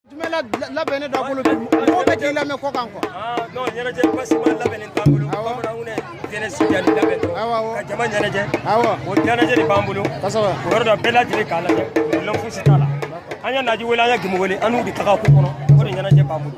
jumɛn labɛnnen d'aw bolo bi mɔgɔw bɛ k'i lamɛn kɔkan quoi. non ɲɛnajɛ basima labɛnnen t'an bolo bamananw ni jeunesse jali labɛn dɔrɔn ka jama ɲɛnajɛ o ɲɛnajɛ de b'an bolo kosɛbɛ o yɔrɔ dɔ bɛɛ lajɛlen k'a lajɛ lɔn fosi t'a la an ye naji wele an ye gemo wele an n'u de taga ko kɔnɔ o de ɲɛnajɛ b'an bolo.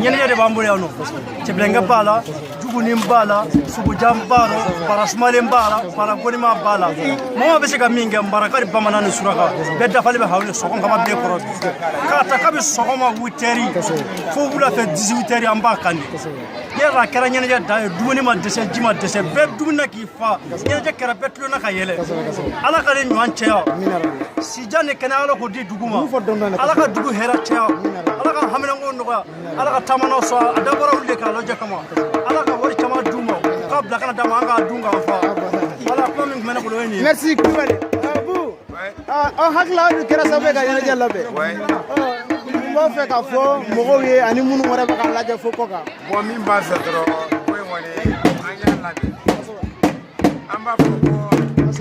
ɲɛnajɛ de b'an bolo yan nɔ cɛbilenkɛ b'a la jugunin b'a la sugujan b'a la bara sumalen b'a la bara gonima b'a la mɔgɔ bɛ se ka min kɛ maraka ni bamanan ni suraka bɛɛ dafalen bɛ hawle sɔgɔn kama bɛɛ kɔrɔ k'a ta kabi sɔgɔma huit heures fo wula fɛ dix-huit heures an b'a kan de yɛrɛ a kɛra ɲɛnajɛ dan ye dumuni ma dɛsɛ ji ma dɛsɛ bɛɛ dumuni na k'i fa ɲɛnajɛ kɛra bɛɛ tulonna ka yɛlɛ ala ka nin ɲɔgɔn cɛya jan ni kɛnɛ ala k'o di dugu ma ala ka dugu hɛrɛ caya ala ka haminanko nɔgɔya ala ka taamanaw sɔrɔ a dabɔra olu de k'a lajɛ kama ala ka wari caman d'u ma k'a bila ka na d'an ma an k'a dun k'an fa voilà kuma min tun bɛ ne bolo o ye nin ye merci kulubali abu aw hakili aw dun kɛra sababu ye ka ɲɛnajɛ labɛn n b'a fɛ k'a fɔ mɔgɔw ye ani minnu wɛrɛ bɛ k'a lajɛ fo kɔkan bon min b'a fɛ dɔrɔn ko in kɔni an y'a labɛn an b'a fɔ ko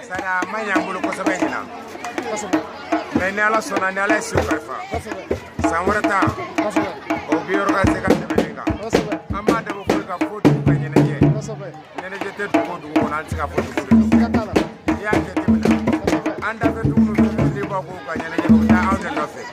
sani a ma ɲɛ an bolo kosɛbɛ ɲinan mais ni ala sɔnna ni ala ye si kalifa san wɛrɛ ta o bi yɔrɔ ka se ka tɛmɛ nin kan an b'a dabɔ fo k'a fɔ dugu ka ɲɛnajɛ ɲɛnajɛ tɛ dugu o dugu kɔnɔ an tɛ se k'a fɔ dugu de don n'i y'a jateminɛ an dafɛ dugu ninnu n'i b'a ko ka ɲɛnajɛ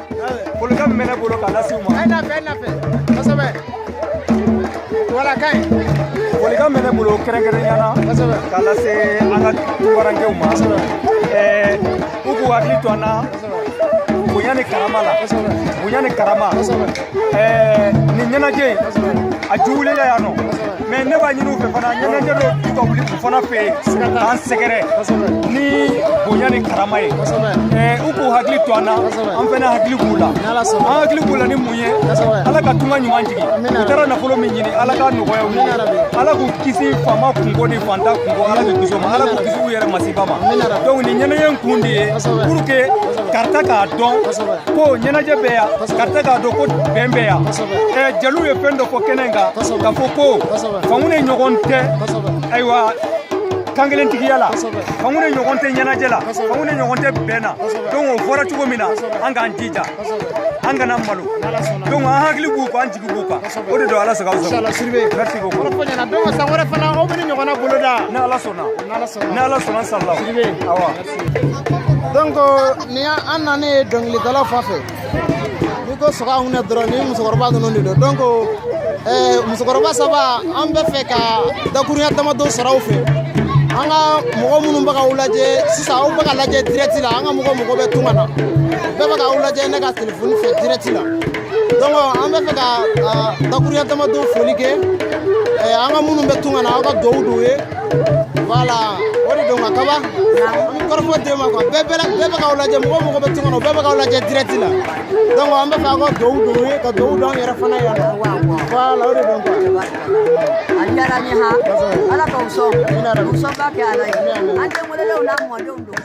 folikan min bɛ ne bolo k'a lase u ma. a ye nafe a ye nafe kosɛbɛ voilà ka ɲi. folikan min bɛ ne bolo kɛrɛnkɛrɛnnenya na. kosɛbɛ k'a lase an ka tunkarankew ma. kosɛbɛ ɛɛ u k'u hakili to an na. kosɛbɛ bonya ni karama la. kosɛbɛ bonya ni karama. kosɛbɛ ɛɛ nin ɲɛnajɛ in. kosɛbɛ a ju wulila yan nɔ. mais ne b'a ɲini u fɛ fana ɲɛnajɛ dɔ ka wuli u fana fɛ yen k'an sɛgɛrɛ ni bonya ni karama ye u k'u hakili to an na an fana hakili b'u la an hakili b'u la ni mun ye ala ka tunga ɲuman jigin u taara nafolo min ɲini ala k'a nɔgɔya u ye ala k'u kisi faama kunko ni fanta kunko ala k'u kisi o ma ala k'u kisi u yɛrɛ masiba ma donc nin ɲɛnajɛ in kun de ye pour que karata k'a dɔn ko ɲɛnajɛ bɛ yan karata k'a dɔn ko bɛn bɛ yan eh, jeliw ye fɛn dɔ fɔ kɛnɛ in kan k'a fɔ ko fangune ɲɔgɔn tɛ ayiwa kankelentigiya la fangune ɲɔgɔn tɛ ɲɛnajɛ la fangune ɲɔgɔn tɛ bɛn na donc o fɔra cogo min na an k'an jija an kana malo donc an hakili b'u kan an jigi b'u kan o de don ala sago sago merci beaucoup kɔrɔfɔ ɲɛna donc san wɛrɛ fana aw bɛ nin ɲɔgɔnna boloda ni ala sɔnna ni ala sɔnna inchallah awa donc nin y'an nanen ye dɔnkilidalaw fan fɛ n'i ko sɔgɔ anw na dɔrɔn ni musokɔrɔba ninnu de don donc eh, musokɔrɔba saba an bɛ fɛ ka dakurunya damadɔ sɔrɔ aw fɛ an ka mɔgɔ minnu bɛ k'aw lajɛ sisan aw bɛ ka lajɛ dirɛti la an ka mɔgɔ mɔgɔ bɛ tunga na bɛɛ bɛ k'aw lajɛ ne ka telefoni fɛ dirɛti la donc an bɛ fɛ ka ah, dakurunya damadɔ foli kɛ eh, an ka minnu bɛ tunga na aw ka dugawu don u ye voilà o de don ka kaba an bɛ kɔrɔfɔ d'e ma quoi bɛɛ bɛɛ bɛɛ bɛ k'aw lajɛ mɔgɔ mɔgɔ bɛ tunga na bɛɛ bɛ k'aw lajɛ direct la donc an bɛ fɛ aw ka dugawu don u ye ka dugawu don an yɛrɛ fana yan nɔ voilà o de don quoi. a diyara n ye ha ala k'aw sɔn u sɔnba kɛ ala ye an denw wolodenw n'a mɔdenw don.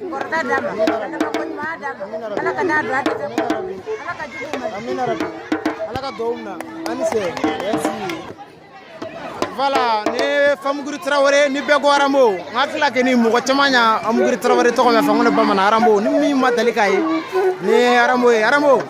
kɔrɔta d'a ma ka labanko ɲuman d'a ma ala kan'a don a dɛsɛ kɔrɔ ala ka jugu ma amina rabi ala ka dugawu minɛ an ni se voilà nin ye famuguri tarawele ni bɛɛ ko arambo n hakili la kɔni mɔgɔ caman ya famuguri tarawele tɔgɔ mɛn fangune bamanan arambo ni min ma dali k'a ye nin ye arambo ye arambo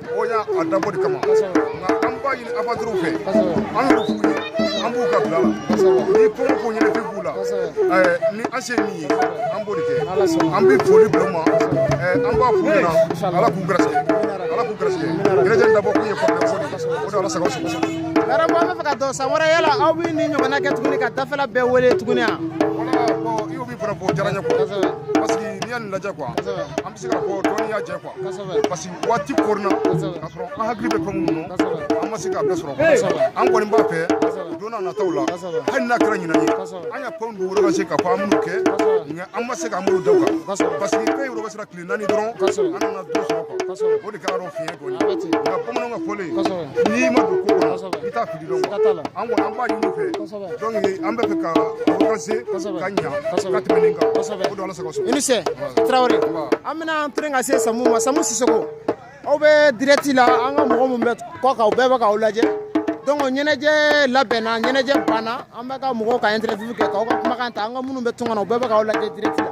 an y'a dabɔ o de kama nka an b'a ɲini aventurierw fɛ an y'o f'u ye an b'u ka bila la ni kɔngɔ ko ɲɛnafin b'u la ni an se min ye an b'o de kɛ an bɛ foli bila u ma an b'a f'u ɲɛna ala k'u gɛrɛsɛgɛ ala k'u gɛrɛsɛgɛ ɲɛnajɛ dabɔ kun ye fanga fɔ de o de ala sago aw sago arambo an bɛ fɛ ka dɔn san wɛrɛ yala aw bɛ nin ɲɔgɔnna kɛ tuguni ka dafɛla bɛɛ wele tuguni wa voilà bon i y'o min fana fɔ o diyara n ye quoi parce que n'i y'a nin lajɛ quoi an bɛ se k'a fɔ dɔɔnin y'a jɛ quoi parce que waati koronna k'a sɔrɔ an hakili bɛ fɛn minnu na an ma se k'a bɛɛ sɔrɔ an kɔni b'a fɛ don n'a nataw la hali n'a kɛra ɲinan ye an ya fɛnw don woloba se ka fɔ an minnu kɛ nka an ma se k'an bolo da u kan parce que fɛn yɔrɔ bɛ sera tile naani dɔrɔn an nana don sɔrɔ o de kɛra dɔ fiɲɛ dɔ ye nka bamananw ka fɔlen n'i ma don ko kɔnɔ i t'a fili dɔn an kɔni an b'a ɲini u fɛ donc an bɛ fɛ ka progresser ka ɲa ka tɛmɛ nin kan o don ala sago i ni sɛ tarawele an bɛna an tilen ka se samu ma samu sisoko aw bɛ direct la an ka mɔgɔ minnu bɛ kɔkan u bɛɛ bɛ k'aw lajɛ donc ɲɛnajɛ labɛnna ɲɛnajɛ banna an bɛ ka mɔgɔw ka interview kɛ k'aw ka kumakan ta an ka minnu bɛ tunga na u bɛɛ bɛ k'aw lajɛ direct la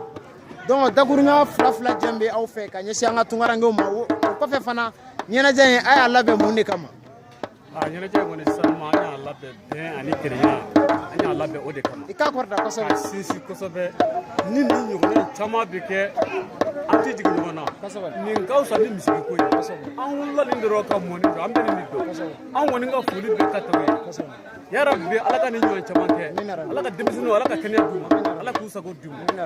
donc dakuruɲa fila fila jɛn bɛ aw fɛ ka ɲɛsin an ka tungarankew ma o kɔfɛ fana ɲɛnajɛ in a y'a labɛn mun de kama a ɲɛnajɛ kɔni sincèrement an y'a labɛn bɛn ani kelenya an y'a labɛn o de kama i k'a kɔrɔta kosɛbɛ ka sinsin kosɛbɛ ni nin ɲɔgɔnna caman bɛ kɛ an tɛ jigin ɲɔgɔn na kosɛbɛ nin ka fisa ni misiki ko ye kosɛbɛ an wolola nin de rɔ ka mɔ nin dɔ an bɛ nin de dɔn kosɛbɛ an kɔni ka foli bɛ ka tɛmɛ kosɛbɛ yarabi ala ka nin ɲɔgɔn caman kɛ ala ka denmisɛnninw ala ka kɛnɛya d'u ma ala k'u sago d'u ma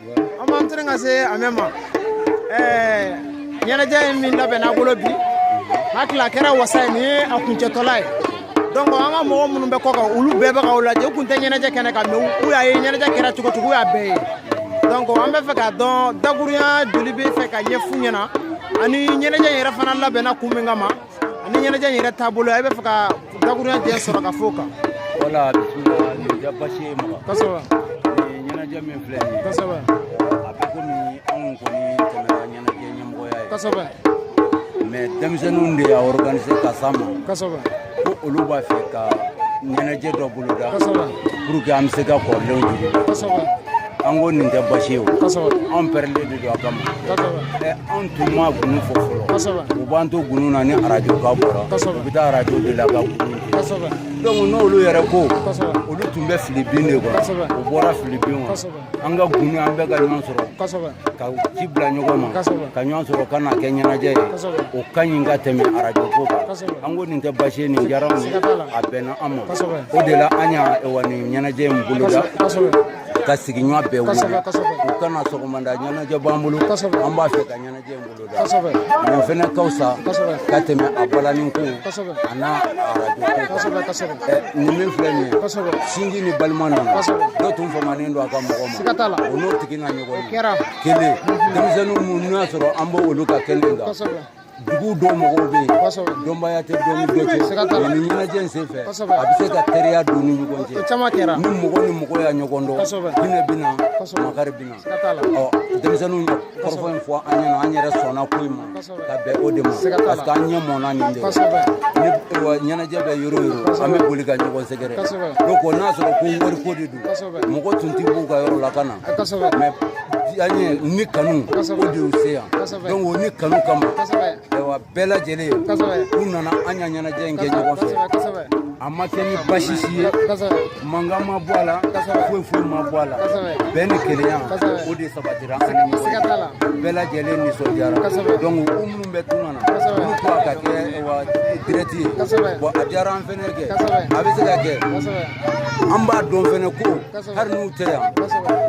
an b'an tɛmɛ ka se amɛ ma ɲɛnajɛ in min labɛnna bolo bi n hakili la a kɛra wasa ye nin ye a kuncɛtɔla ye donc an ka mɔgɔ minnu bɛ kɔkan olu bɛɛ bɛ k'aw lajɛ u kun tɛ ɲɛnajɛ kɛnɛ kan mais u y'a ye ɲɛnajɛ kɛra cogo cogo u y'a bɛɛ ye donc an bɛ fɛ k'a dɔn dakuruɲa joli b'e fɛ k'a ɲɛf'u ɲɛna ani ɲɛnajɛ yɛrɛ fana labɛnna kun min kama ani ɲɛnajɛ in yɛrɛ taabolo i b'a fɛ ka dakuruɲa jɛ sɔrɔ ka fɔ o kan wala bisimila nin tɛ basi ye mɔgɔ kosɛbɛ nin ɲɛnajɛ min filɛ nin ye kosɛbɛ a bɛ komi anw kɔni tɛmɛna ɲɛnajɛ ɲɛmɔgɔya ye kosɛbɛ mais denmisɛnninw de y'a organiser ka s'an ma kosɛbɛ ko olu b'a fɛ ka ɲɛnajɛ dɔ boloda kosɛbɛ pour que an bɛ se ka kɔrɔlenw jigi kosɛbɛ an ko nin tɛ basi ye o anw pɛrɛlen de don a kama ɛ anw tun ma gunu fɔ fɔlɔ u b'an to gunu na ni arajo kan bɔra u bɛ taa arajo de la ka gunu donc n'olu yɛrɛ ko olu tun bɛ fili bin de kɔnɔ u bɔra fili bin kɔnɔ an ka gunu an bɛɛ ka ɲɔgɔn sɔrɔ ka ci bila ɲɔgɔn ma ka ɲɔgɔn sɔrɔ ka n'a kɛ ɲɛnajɛ ye o ka ɲi ka tɛmɛ arajo ko kan an ko nin tɛ basi ye nin diyara anw ye a bɛnna an ma o de la an y'a wa nin ɲɛnajɛ in boloda ka sigiɲɔgɔn bɛɛ wele u ka na sɔgɔmada ɲɛnajɛ b'an bolo an b'a fɛ ka ɲɛnajɛ in boloda nin fɛnɛ ka fisa ka tɛmɛ a balani ko a n'a arajo ko nin min filɛ nin ye sinji ni balima nana dɔ tun famanen don a ka mɔgɔ ma o n'o tigi na ɲɔgɔn ye kelen denmisɛnninw minnu y'a sɔrɔ an b'o olu ka kɛnɛ kan dugu dɔw mɔgɔw bɛ yen dɔnbaya tɛ dɔ ni dɔ cɛ nin ɲɛnajɛ in senfɛ a bɛ se ka teriya don ni ɲɔgɔn cɛ ni mɔgɔ ni mɔgɔ y'a ɲɔgɔn dɔn hinɛ bɛ na makari bɛ na ɔ denmisɛnninw ye kɔrɔfɔ in fɔ an ɲɛna an yɛrɛ sɔnna ko in ma ka bɛn o de ma parce que an ɲɛ mɔna nin de ni ɲɛnajɛ bɛ yɔrɔ o yɔrɔ an bɛ boli ka ɲɔgɔn sɛgɛrɛ donc n'a sɔrɔ ko wariko de don mɔgɔ tun tɛ b'u ka yɔrɔ la ka na mais diyaɲɛ ni kanu o de y'u se yan donc o ni kanu kama wa bɛɛ lajɛlen u nana an y'a ɲɛnajɛ in kɛ ɲɔgɔn fɛ a ma kɛ ni basi si ye mankan ma bɔ a la foyi foyi ma bɔ a la bɛn ni kelenya o de sabatira an ni ɲɔgɔn cɛ bɛɛ lajɛlen nisɔn diyara donc u minnu bɛ tunga na olu ko a ka kɛ direct ye bon a diyara an fɛnɛ kɛ a bɛ se ka kɛ an b'a dɔn fɛnɛ ko hali n'u tɛ yan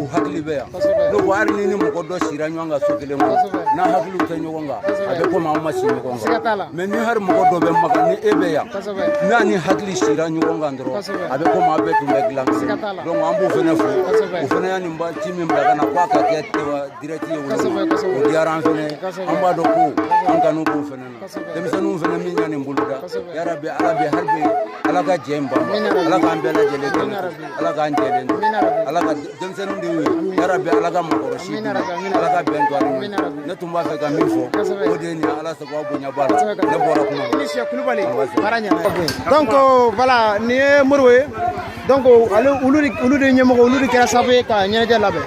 u hakili bɛ yan ne ko hali ni ni mɔgɔ dɔ sira ɲɔgɔn kan so kelen kɔnɔ n'aw hakiliw tɛ ɲɔgɔn kan a bɛ komi aw ma si ɲɔgɔn kan mais ni hali mɔgɔ dɔ bɛ maka ni e bɛ yan n'a ni hakili sira ɲɔgɔn kan dɔrɔn a bɛ komi aw bɛɛ tun bɛ dilan kelen donc an b'u fɛnɛ fo u fɛnɛ y'a nin ci min bila ka na k'a ka kɛ direct ye o diyara an fɛnɛ an b'a dɔn ko an kanu b'u fɛnɛ denmisɛnninw fana min y'a nin boloda yarabi ala bi hali bi ala kana jɛ in ban ala k'an bɛɛ lajɛlen kan ala k'an jɛlen to ala ka denmisɛnninw dɛmɛ yarabi ala ka mɔgɔkɔrɔsi ala ka bɛn to ani ne tun b'a fɛ ka min fɔ o de ye nin ala sago aw bonya b'a la ne bɔra kuma donc voilà nin ye modibo ye donc ale olu de ɲɛmɔgɔ olu de kɛra sababu ye ka ɲɛnajɛ labɛn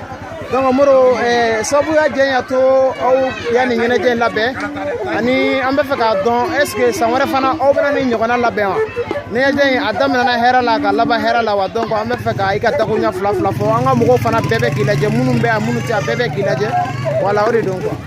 donc modibo sababuya jɛn y'a to aw y'a nin ɲɛnajɛ in labɛn ani an bɛ fɛ k'a dɔn est ce que san wɛrɛ fana aw bɛna nin ɲɔgɔnna labɛn wa ɲɛnajɛ in a daminɛna hɛrɛ la ka laban hɛrɛ la wa donc an bɛ fɛ ka i ka dakurunya fila fila fɔ an ka mɔgɔw fana bɛɛ bɛ k'i lajɛ minnu bɛ yan minnu tɛ yan bɛɛ bɛ k'i lajɛ voilà o de don quoi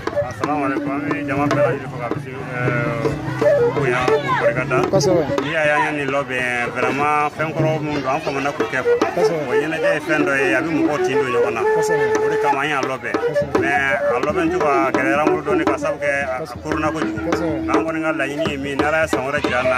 n'i y'a y'an nin labɛn vraiment fɛn kɔrɔ minnu don an famana k'u kɛ o ɲɛnajɛ ye fɛn dɔ ye a bɛ mɔgɔw tin don ɲɔgɔn na o de kama an y'a labɛn mais a labɛn cogo a gɛlɛyara an bolo dɔɔni ka sabu kɛ a koronna kojugu nka an kɔni ka laɲini ye min ye n'ala ye san wɛrɛ jira an na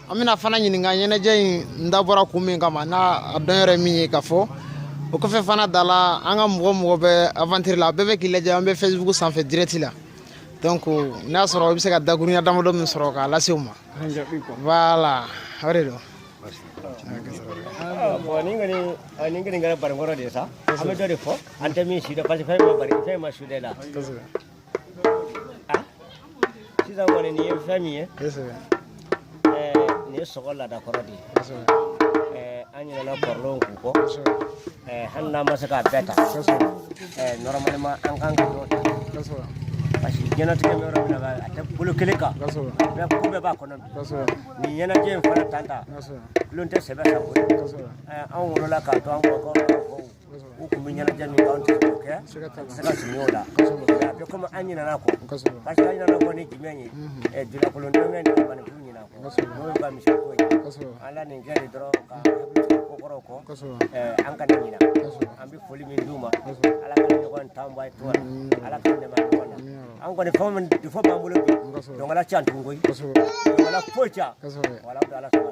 an bɛna fana ɲininka ɲɛnajɛ in dabɔra kun min kama n'a dɔn yɛrɛ min ye ka fɔ o kɔfɛ fana da la an ka mɔgɔ o mɔgɔ bɛ aventure la bɛɛ bɛ k'i lajɛ an bɛ facebook sanfɛ direct la donc n'a y'a sɔrɔ i bɛ se ka dakurunya damadɔ min sɔrɔ k'a lase u ma voilà o de don bon nin kɔni ɔ, nin kɔni kɛra barinkɔrɔ de ye sa an bɛ dɔ de fɔ an tɛ min sidɔn parce que fɛn ma bari fɛn ma su de la ah sisan kɔni nin ye fɛn min ye nin ye sogo laada kɔrɔ de ye an ɲinɛna kɔrɔlenw ko kɔ hali n'an ma se k'a bɛɛ ta normalement an kan ka dɔ ta parce que diɲɛnatigɛ bɛ yɔrɔ min na a tɛ bolo kelen kan bɛɛ ko bɛɛ b'a kɔnɔ bi nin ɲɛnajɛ in fana tan tulon tɛ sɛbɛ sa ko anw wolola k'a to an kɔrɔkɔrɔw u kun bɛ ɲɛnajɛ min kɛ anw tɛ se k'o kɛ an tɛ se ka surunya o la mais a bɛ comme an ɲinana kɔ parce que an ɲinana kɔ ni jumɛn ye ɛ dulakolon dɔnkɛ ni manifu ɲina kɔ n'o ye ka misi ko ye an la nin kɛ de dɔrɔn ka hakili to ko kɔrɔw kɔ an kana ɲina an bɛ foli min d'u ma ala ka ɲɔgɔn tan bɔ a ye tɔgɔ la ala ka dɛmɛ a ɲɔgɔn na an kɔni fɛn min de fɔ b'an bolo bi donc ala k'an to ɲɔgɔn ye donc ala foyi can wala bɛ ala sɔrɔ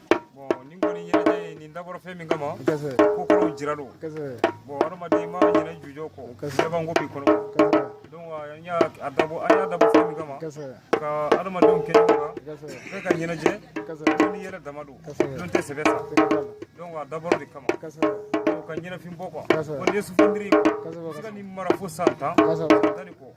bon nin kɔni ɲɛnajɛ ye nin dabɔra fɛn min kama ko kɔrɔw jira don bon hadamaden ma ɲinɛ jujɔn kɔ sɛbɛnko b'i kɔnɔ donc an y'a dabɔ an y'a dabɔ fɛn min kama ka hadamadenw kɛ ɲɔgɔn kan bɛɛ ka ɲɛnajɛ bɛɛ n'i yɛrɛ dama don tulon tɛ sɛbɛ sa donc a dabɔra o de kama donc ka ɲɛnafin bɔ quoi ko nin ye souvenir ye quoi se ka nin mara fo san tan san tan ni kɔ